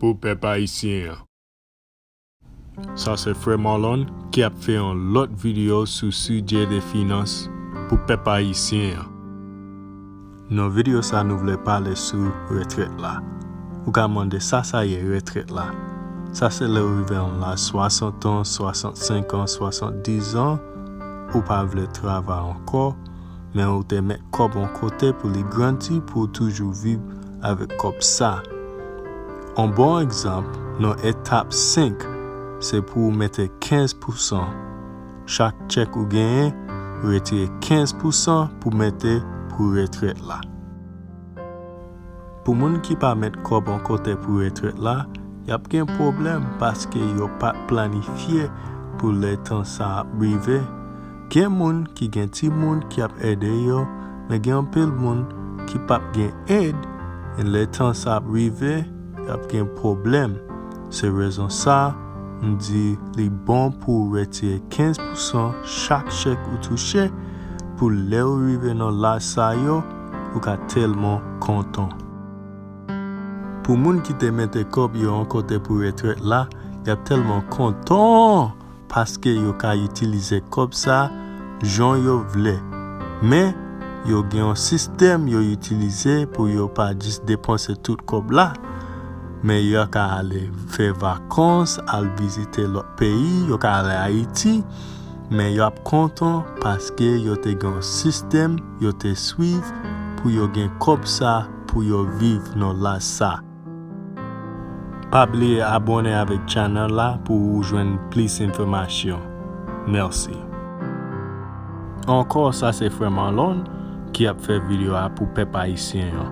pou pèp ayisyen an. Sa se frè Marlon ki ap fè yon lòt video sou sijè de finans pou pèp ayisyen an. Nan video sa nou vle pale sou retrèt la. Ou ka mande sa sa ye retrèt la? Sa se lè ou rive yon laj 60 an, 65 an, 70 an, ou pa vle travay ankò, men ou te met kòb yon kote pou li grandi pou ou toujou viv avèk kòb sa. On bon egzanp nan etap 5 se pou ou mete 15 pousan chak tchèk ou genyen retire 15 pousan pou mete pou retrèt la. Pou moun ki pa met kòb on kote pou retrèt la yap gen pwoblèm paske yo pat planifye pou lè tan sa ap rive. Gen moun ki gen timoun ki ap ede yo men gen anpil moun ki pap gen èd e lè tan sa ap rive y ap gen pwoblèm se rezon sa m di li bon pou w retire 15 pousan chak chèk ou touche pou lè ou rive nan laj sa yo ou ka tèlman kontan. Pou moun ki te mete kòb yo an kote pou retrèt la y ap tèlman kontan! paske yo ka itilize kòb sa jan yo vle men yo gen yon sistèm yo itilize pou yo pa jis depanse tout kòb la men yo ka ale fè vakans al vizite lòt peyi yo ka ale ayiti men yo ap kontan paske yo te gen yon sistèm yo te swiv pou yo gen kòb sa pou yo viv nan laj sa. Pa bliye abone avek channel la pou ou jwenn plis enfomasyon merci. Ankò sa se frè Marlon ki ap fè video a pou pèp ayisyen an.